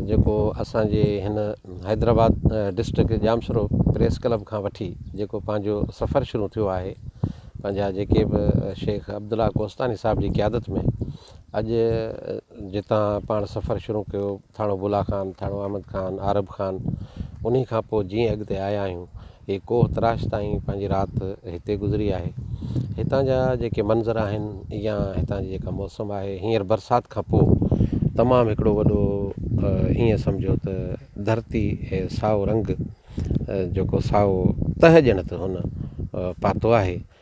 جيڪو اسان جي هن Hyderabad district Jamshoro press club کان وٺي جيڪو پنهنجو سفر شروع ٿيو آهي پنهنجا جيڪي به شيخ عبدالله ڪوستاني صاحب جي قيادت ۾ اڄ جتان پاڻ سفر شروع ڪيو ٿاڻو بلا خان ٿاڻو احمد خان عارب خان انهي کان پوء جيئن اڳتي آيا آهيون هي ڪوهه تراش تائين پنهنجي رات هتي گذري آهي. هتان جا جيڪي منظر آهن يا هتان جي جيڪا موسم آهي هينئر برسات کان پوء تمام هڪڙو وڏو ايئن سمجهو ته ڌرتي هي سائو رنگ جيڪو سائو تهه ڄڻ ته هن پاتو آهي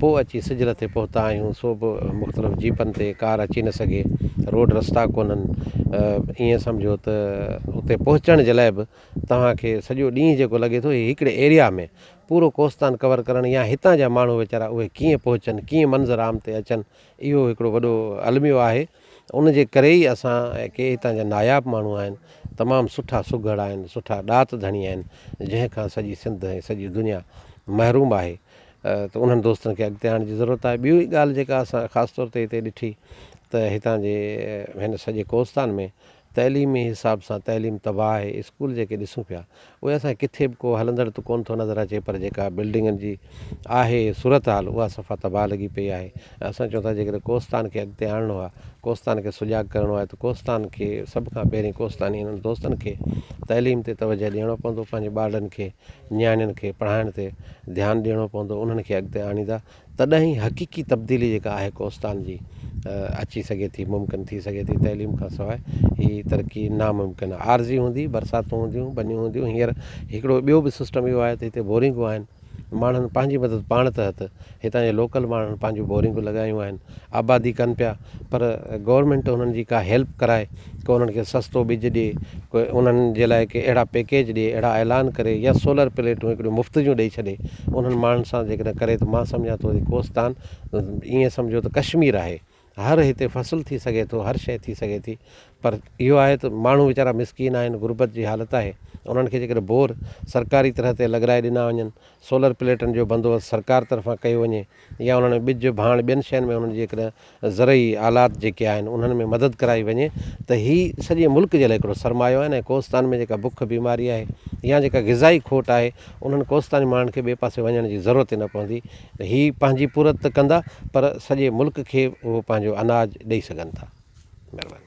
پوء اچي سجل تي پهتا آهيون سو به مختلف جيپن تي ڪار اچي نه سگهي روڊ رستا ڪونهن ائين سمجهو ته اتي پهچڻ جي لاء به توهان کي سڄو ڏينهن جيڪو لڳي ٿو هي هڪڙي ايريا ۾ پورو ڪوستان ڪور ڪرڻ يا هتان جا ماڻهو ويچارا اهي ڪيئن پهچن ڪيئن منظر عام تي اچن اهو هڪڙو وڏو الميو آهي ان جي ڪري ئي اسان ڪي هتان جا ناياب ماڻهو آهن تمام سٺا سگهڙ آهن سٺا ڏات ڌڻي آهن جنهن کان سڄي سنڌ ۽ سڄي دنيا محروم آهي ته انهن دوستن کي اڳتي آڻڻ جي ضرورت آهي. ٻيو هڪ ڳالهه جيڪا اسان خاص طور تي هتي ڏٺي ته هتان جي هن سڄي ڪوستان ۾ تعليمي حساب سان تعليم تباهه آهي. اسڪول جيڪي ڏسون پيا اهي اسان کي ڪٿي به ڪو هلندڙ ته ڪونه ٿو نظر اچي پر جيڪا بلڊنگن جي آهي صورتحال اها صفا تباهه لڳي پئي آهي ۽ اسان چئون ٿا جيڪڏهن ڪوستان کي اڳتي آڻڻو آهي ڪوستان کي سجاڳ ڪرڻو آهي ته ڪوستان کي سڀ کان پهرين ڪوستاني انهن دوستن کي تعليم تي توجهه ڏيڻو پوندو پنهنجي ٻارڙن کي نياڻين کي پڙهائڻ تي ڌيان ڏيڻو پوندو انهن کي اڳتي آڻيندا تڏهن ئي حقيقي تبديلي جيڪا آهي ڪوستان جي اچي سگهي ٿي ممڪن ٿي سگهي ٿي تعليم کان سواء هي ترقي ناممڪن آهي عارضي هوندي برساتون هونديون بنيون هونديون هينئر هڪڙو ٻيو به سسٽم اهو آهي ته هتي بورنگون آهن ماڻهن پنهنجي مدد پاڻ تحت هتان جي لوڪل ماڻهن پنهنجون بورنگون لڳايون آهن آبادي ڪن پيا پر گورنمينٽ انهن جي ڪا هيلپ ڪرائي ڪو انهن کي سستو ٻج ڏي ڪو انهن جي لاء ڪي اهڙا پيڪيج ڏي اهڙا اعلان ڪري يا سولر پليٽون هڪڙيون مفت جون ڏئي ڇڏي انهن ماڻهن سان جيڪڏهن ڪري ته مان سمجهان ٿو ته ڪوستان ائين سمجهو ته ڪشمير آهي هر هتي فصل ٿي سگهي ٿو هر شيء ٿي سگهي ٿي پر اهو آهي ته ماڻهو ويچارا مسڪين آهن غربت جي حالت آهي انهن کي جيڪڏهن بور سرڪاري طرح تي لڳرائي ڏنا وڃن سولر پليٽن جو بندوبست سرڪار طرفان ڪيو وڃي يا انهن ۾ ٻج ڀاڻ ٻين شين ۾ انهن جيڪڏهن زرعي آلات جيڪي آهن انهن ۾ مدد ڪرائي وڃي ته هي سڄي ملڪ جي لاء هڪڙو سرمايو آهن ۽ ڪوستان ۾ جيڪا بک بيماري آهي يا جيڪا غذائي کوٽ آهي انهن ڪوستاني ماڻهن کي ٻئي پاسي وڃڻ جي ضرورت ئي نه پوندي هي پنهنجي پورت ته ڪندا پر سڄي ملڪ کي اهو پنهنجو اناج ڏئي سگهن ٿا. مهرباني.